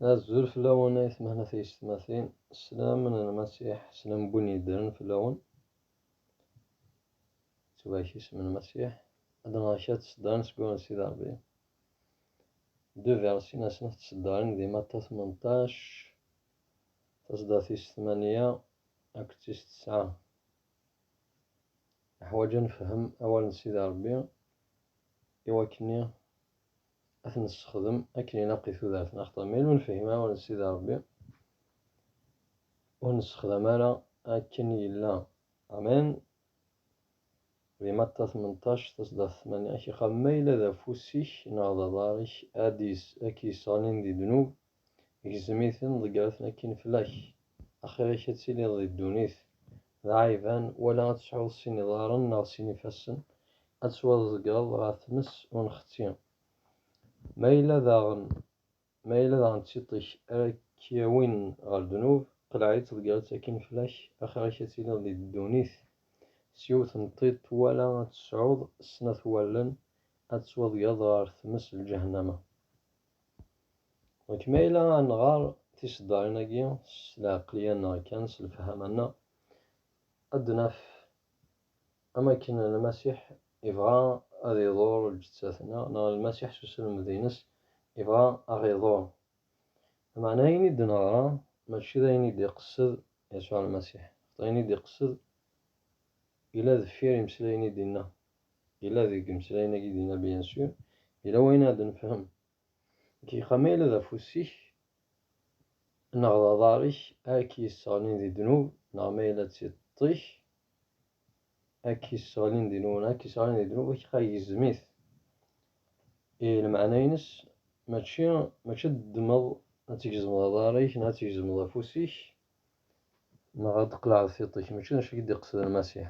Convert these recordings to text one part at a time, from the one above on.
Azul fell-awen ay tmehna tiyessetmatin, sslam n Lmasiḥ, sslam n win yeddren fell-awen, yettbak isem n Lmasiḥ, ad nɣer kra tseddarin seg wawal n Sidi Rebbi. De versi na snat tseddarin di Matta tmenṭac, taseddart tis tmanya akked tis tesɛa. Neḥwaj ad nefhem awal n Sidi Rebbi iwakken ad t-nessexdem akken ilaq i tudert neɣ xaṭer ma yella ur nefhim ara awal n Sidi Ṛebbi ur nessexdam ara akken yella amen di Matta tmenṭac tasdaɣ tmanya ak iqab ma yella d afus-ik neɣ d aḍar-ik ad k-yesseɣlin di ddnub gzem-iten ḍegger-ten akkin fell-ak, axir-ik ad tiliḍ di ddunit d aɛiban, wala ad tesɛuḍ sin iḍarren neɣ sin ifassen, ad tettwaḍeggreḍ ɣer tmes unxetti. Ma yella daɣen ma yella daɣen d tiṭ-ik ara k-yawin ɣer ddnub, qleɛ-itt ḍegger-itt akkin fell-ak, axir-ik ad tiliḍ di ddunit s yiwet n tiṭ wala ad tesɛuḍ snat wallen, ad tettwaḍegreḍ ɣer tmes n lǧahennama. Dɣa ma yella ad nɣer tiseddarin-agi s lɛeqliya-nneɣ kan, s lefhama-nneɣ, ad d-naf am wakken Lmasiḥ ibɣa ad iḍur lǧettat-nneɣ, neɣ Lmasiḥ s uselmed-ines ibɣa ad ɣ-iḍur. Lameɛna ayen i d-neɣra mačči d ayen i d-iqessed Yasuɛ Lmasiḥ, axaṭer ayen i d-iqessed yella deffir imeslayen i d-inna. yella deg imeslayen-agi dinna bien sûr, yella wayen ara d-nefhem. Dqiqa, ma yella d afus-ik neɣ d aḍar-ik ara k-yesseɣlin di ddnub, neɣ ma yella d tiṭ-ik ara k-yesseɣlin di nwen, ara k-yesseɣlin di ddnub, dqiqa gezzem-it. I lmeɛna-ines mačči mačči ad d-ddmeḍ ad tgezmeḍ aḍar-ik neɣ ad tgezmeḍ afus-ik neɣ ad d-tqelɛeḍ tiṭ-ik, mačči d acu i k-d-iqesden Lmasiḥ.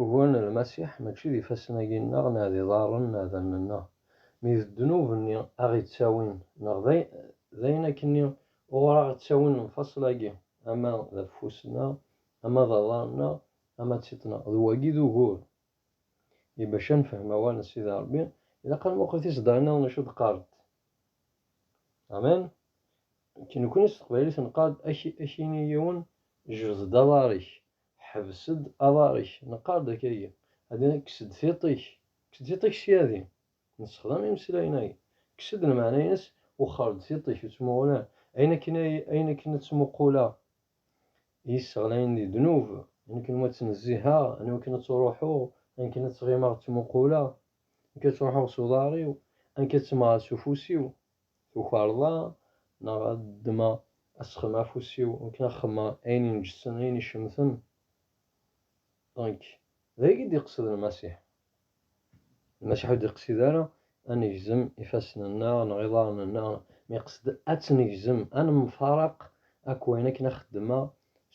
Ugur n Lmasiḥ mačči d ifassen-agi-nneɣ neɣ d iḍarren neɣ d allen-nneɣ, mi d ddnub-nni aɣ-ittawin, neɣ d ayen akkenni uɣur aɣ-ttawin lemfaṣel-agi, ama d afus-nneɣ, ama d aḍar-nneɣ, ama d tiṭ-nneɣ. D wagi i d ugur. I bac ad nefhem awal n Sidi Ṛebbi, ilaq ad nmuqel tiseddarin-nniḍen acu d-qqarent. Amen? Nekk, nekkni s teqbaylit nqarr-d, ad ak-yini yiwen, jbed-d aḍar-ik, Ḥbes-d aḍar-ik, neqqar-d akkagi, adi, kkes-d tiṭ-ik, kkes-d tiṭ-ik sya adi, nessexdam imeslayen-agi, kkes-d lmeɛna-ines, wexxer-d tiṭ-ik, ur ttmuqul ara, ayen akken ay, ayen akken ad ttmuquleɣ iyi-sseɣlayen di ddnub, ayen akken iwumi ad ttnezziheɣ, ayen iwakken ad ttruḥuɣ, ayen akken ad ttɣimeɣ ttmuquleɣ, ayen akken ad ttruḥuɣ s uḍar-iw, ayen akken ad ttemmɣeɣ s ufus-iw, Tukarḍa neɣ ad ddmeɣ asexm afus-iw akken ad xemmeɣ ayen inǧessen, ayen icemten? Nek, d ayagi d-iqsed Lmasiḥ. Lmasiḥ ur d-iqsid ara ad negzem ifassen-nneɣ neɣ iḍarren-nneɣ, ma iqsed ad tt-negzem, ad nemfareq akk ayen akken ad xeddmeɣ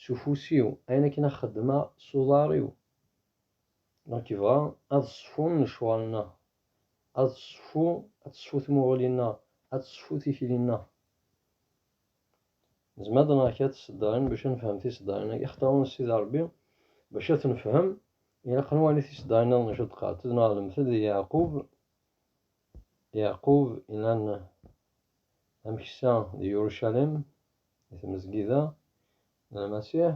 s ufus-iw, ayen akken ad xeddmeɣ s uḍar-iw. Nekk bɣa ad ṣfun lecɣal-nna, ad ṣfu ad tesfu tmuɣli-nna, ad tesfu tikli-nna. Nezmer ad nɣer kra tiseddarin bac ad nefhem tiseddarin-agi ixtawen Sidi Rebbi, bac ad tenefhem ilaq ad nwali tiseddarin-nniḍen acu d-qqarent, ad nɣer lemtel di Yeɛqub, Yeɛqub ilan ameksa di Yurucalim, di tmezgida n Lmasiḥ,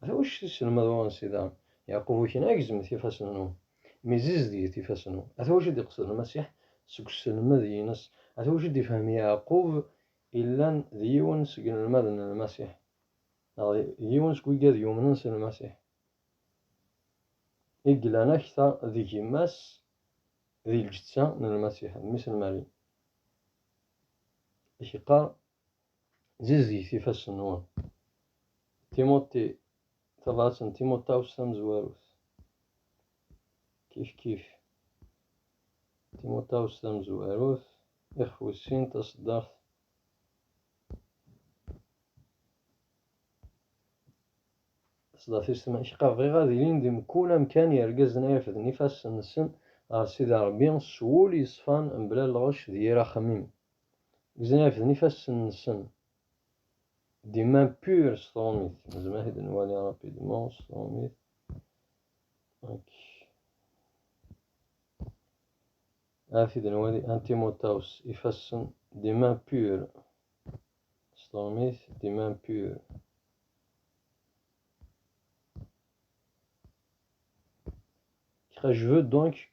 Ala wacu t-isselmed uɣensi daɣen, Yeɛqub Ukna, Agzemt ifassen-nwen, mmi zizedget ifassen-nwen. Ata wacu d-iqsed Lmasiḥ seg uselmed-ines, ata wacu d-ifhem Yeɛqub illan d yiwen seg inelmaden n Lmasiḥ, neɣ d yiwen seg wigad yumnen s Lmasiḥ, i yellan akter d gma-s di lǧetta n Lmasiḥ, d mmi-s n Mari. I k-yeqqar Zizget ifassen-nwen. Timuṭi, tabṛat n Timuṭawes tamezwarut. Kif kif. Timuṭawes tamezwarut, ixef wis sin, taṣeddart. Taṣeddart-is tma, iḥeqqa bɣiɣ ad ilin di mkul amkan yergazen ay refden ifassen-nsen ɣer Sidi Ṛebbi s wul yeṣfan mebla lɣec d yir axemmem. Gzan irefden ifassen-nsen. Des mains pures s trumit. Nezmer ad t-id-nwali rapidement s trumit. Ok. Ad t-id-nwali Antimotawus ifassen des mains pures s trumit, des mains pures. Kra jeveux donc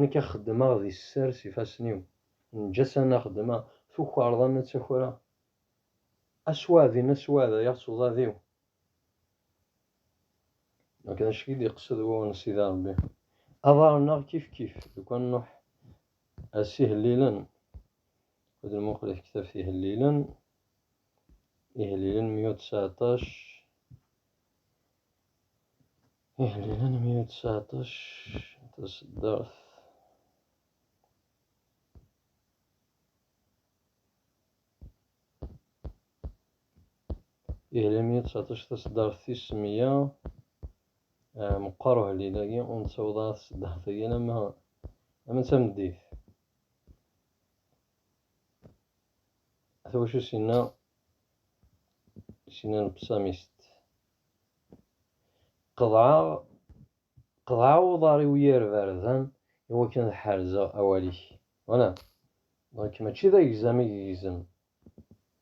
Nekk a xeddmeɣ di sser s ifassen-iw. Nǧasan a xeddmeɣ. Tukareḍ a nettakreɣ. Aswaɛdin a swaɛdayeɣ s uḍad-iw. Akken acu i d-iqsed wuɣen Sida Rebbi. Aḍar-nneɣ kifkif deg wa n Nuḥ. A s ihellilen. Ad d-nmuqel i tektabt ihellilen. Ihellilen mya u ţţeɛṭac. Iḥbiben 119 taseddart Ihla 119 taseddart tis meyya ah, meqqer uhlil-agi ur nettaweḍ ara taseddart-agi alamma alamma d tameddit At wacu sinna sinna lebsamist Qeḍɛeɣ, qeḍɛeɣ uḍar-iw yir bardan i wakken ad ḥerzeɣ awal-ik. Wala! Donc mačči d agzam i yegzem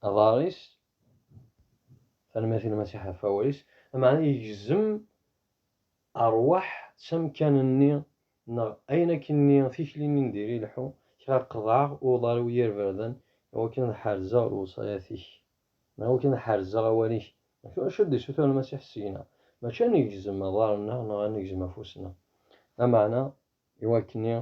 aḍar-is, tanemmirt i Lmasiḥ ɣef wawal-is, lameɛna yegzem rrwaḥ s amkan-nni neɣ ayen akkenni, tikli-nni n diri lḥu, kra qeḍɛeɣ uḍar-iw yir bardan i wakken ad ḥerzeɣ lewṣayat-ik. Neɣ wi kan ḥerzeɣ awal-ik. Acu d-isuter Lmasiḥ seg-neɣ? Mačči ad negzem aḍar-nneɣ neɣ ad negzem afus-nneɣ. Lameɛna, i wakken-nni,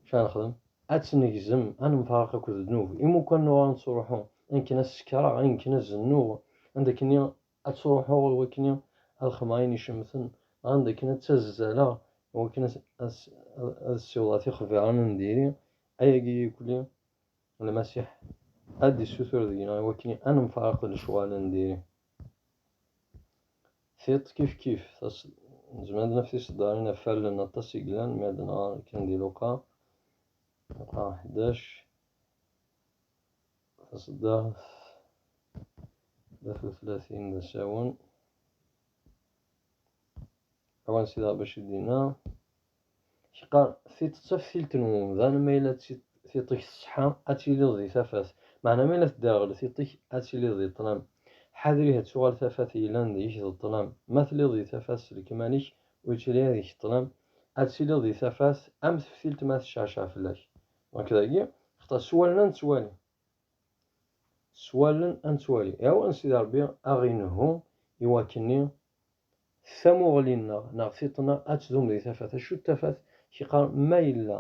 acu ara nexdem? Ad tt-negzem, ad nemfaraq akked ddnub. Imukan n uɣar nettruḥu, ayen kan ad sekreɣ, ayen kan ad zennuɣ, anda akken-nni ad ttruḥuɣ i wakken-nni ad xedmeɣ ayen icemten, neɣ anda akken ad ttazzaleɣ i wakken ad ssiwḍeɣ tixbiṛin n diri, ayagi ikli Lmasiḥ ad d-issutur deg-neɣ i wakken ad nemfareq d lecɣal n diri. Tiṭ kifkif, nezmer ad d-naf tiseddarin ɣef wallen aṭas i yellan mi ad nɣer kan di Luqa, Luqa ḥdac, taseddart tlata u tlatin d asawen, awansi d Rebbi acu d-inna, Yeqqar, Tiṭ d taftilt n wemdan, ma yella tiṭ-ik tṣeḥḥa, ad tiliḍ di tafat, meɛna ma yella tedderɣel tiṭ-ik, ad tiliḍ di ṭṭlam. Ḥader ihi ad tuɣal tafat yellan deg-k d ṭṭlam. Ma telliḍ di tafat s lekmal-ik, ur yettili ara deg-k ṭṭlam, ad tiliḍ di tafat am teftilt ma tecceɛceɛ fell-ak. Donc dagi, xaṭer s wallen ad nettwali. S wallen ad nettwali. Iɛawen Sidi Ṛebbi ad ɣ-inehhu i wakken-nni s tamuɣli-nneɣ neɣ tiṭ-na ad tdum di tafat. Acu d tafat? K-iqqaren ma yella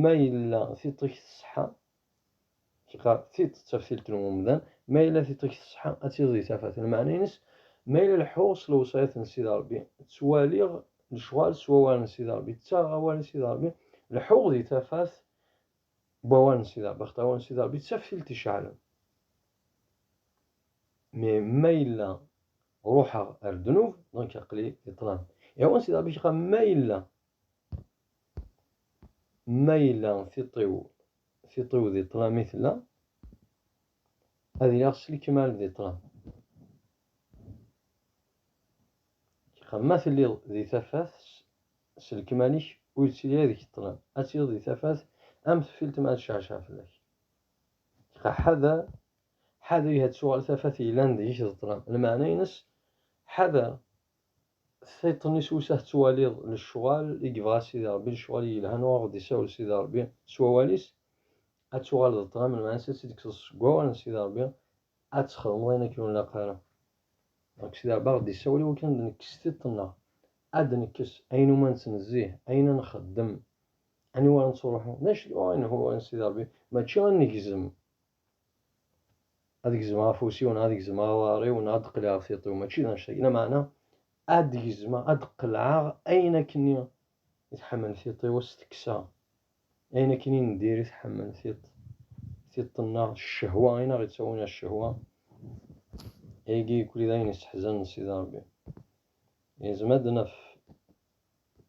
ma yella tiṭ-ik tṣeḥḥa, k-iqqar tiṭ d taftilt n umdan, ma yella tiṭ-ik tṣeḥḥa ad tiliḍ di tafat. Lmeɛna-ines, ma yella leḥḥuɣ s lewṣayat n Sidi Ṛebbi, ttwaliɣ lecɣal s wawal n Sidi Ṛebbi, ttaɣeɣ awal n Sidi Ṛebbi, leḥḥuɣ di tafat, Bawan sida, Baxtawan sida, di taftilt iceɛlen. Mi ma yella ruḥeɣ ar ddnub, donc aqli di ṭlam. Iɛwan sida Ṛebbi ccqa ma yella, ma yella tiṭ-iw, tiṭ-iw di ṭlam i tella, ad iliɣ s lekmal di ṭlam. Ccqa ma telliḍ di tafat, s lekmal-ik ur yettili ara deg ṭṭlam, ad tiliḍ di tafat am teffilt mi ara tecceɛceɛ fell-ak. Dɣa ḥader, ḥader ihi ad tuɣal tafat yellan deg-k d ṭṭlam, lmeɛna-ines ḥader tiṭ-nni s wussan tettwaliḍ lecɣal i yebɣa Sidi Rebbi, lecɣal yelhan ur aɣ-d-isawel Sidi Rebbi s wawal-is, ad tuɣal d ṭṭlam, lmeɛna-ines ad tt-id-tekkseḍ seg wawal n Sidi Rebbi, ad txedmeḍ ayen akken ur nlaq ara. Dɣa Sidi Rebbi aɣ-d-yessawel i wakken ad d-nekkes tiṭ-nneɣ, ad d-nekkes ayen umi ad nettnezzih, ayen ad nxeddem, aniwa ara nettruḥu. D acu tebɣa ad nelhu a Sidi Rebbi? Mačči ad negzem, ad gezmeɣ afus-iw neɣ ad gezmeɣ aḍar-iw neɣ ad d-qelɛeɣ tiṭ-iw, mačči d annect-agi. Lameɛna, ad gezmeɣ, ad d-qelɛeɣ ayen akkenni i tḥemmel tiṭ-iw s teksa, ayen akken i ndir i tḥemmel tiṭ, tiṭ-nneɣ, ccehwa, i naɣ-ittawin ar ccehwa, ayagi yekkuli d ayen isseḥzanen Sidi Rebbi. Ilzem ad d-naf,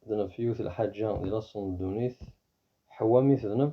d-naf yiwet lḥaǧa di laṣel n ddunit, Ḥewwa mi tedneb,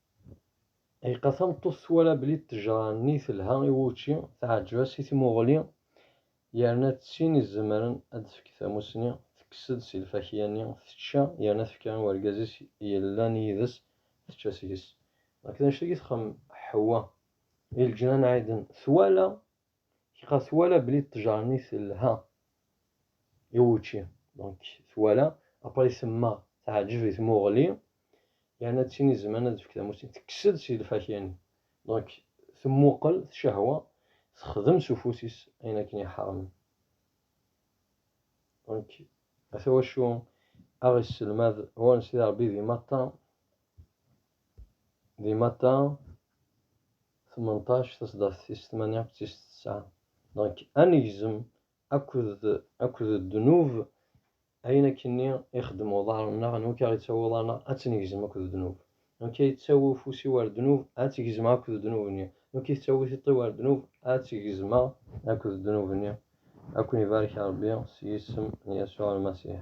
Ayqa tameṭṭut twala belli ṭṭejra-nni telha i wučči, teɛǧeb-as i tmuɣli, yerna d tin izemren ad d-tefk tamussni, tekkes-d si lfakya-nni, tečča, yerna tefka i urgaz-is yellan yid-s, tečča seg-s. Nekk d anect-agi txemmem Ḥewwa. I leǧnan ɛiden, twala Kra twala bli ṭṭejra-nni telha i wučči. Donc twala, après temma teɛǧeb i tmuɣli, yerna d tin izemren ad tefk tamussni. Tekkes-d si lfakya-nni. Donc temmuqel, tcehwa, texdem s ufus-is ayen akken iḥermen. Donc ata wacu aɣ-isselmad ɣur-n Sidi Rebbi di matta, di matta Tmenṭac tasdaft tis tmanya akked tis tesɛa. Donc ad negzem akked akked ddnub ayen akkenni ixeddem uḍar-nneɣ anwa akka ittawi uḍar-nneɣ ad t-negzem akked ddnub. Anwa akka yettawi ufus-iw ar ddnub ad t-gezmeɣ akked ddnub-nni. Anwa akka yettawi tiṭ-iw ar ddnub ad t-gezmeɣ akked ddnub-nni. Ad ken-ibarek Rebbi s yisem n Yasuɛ Lmasiḥ.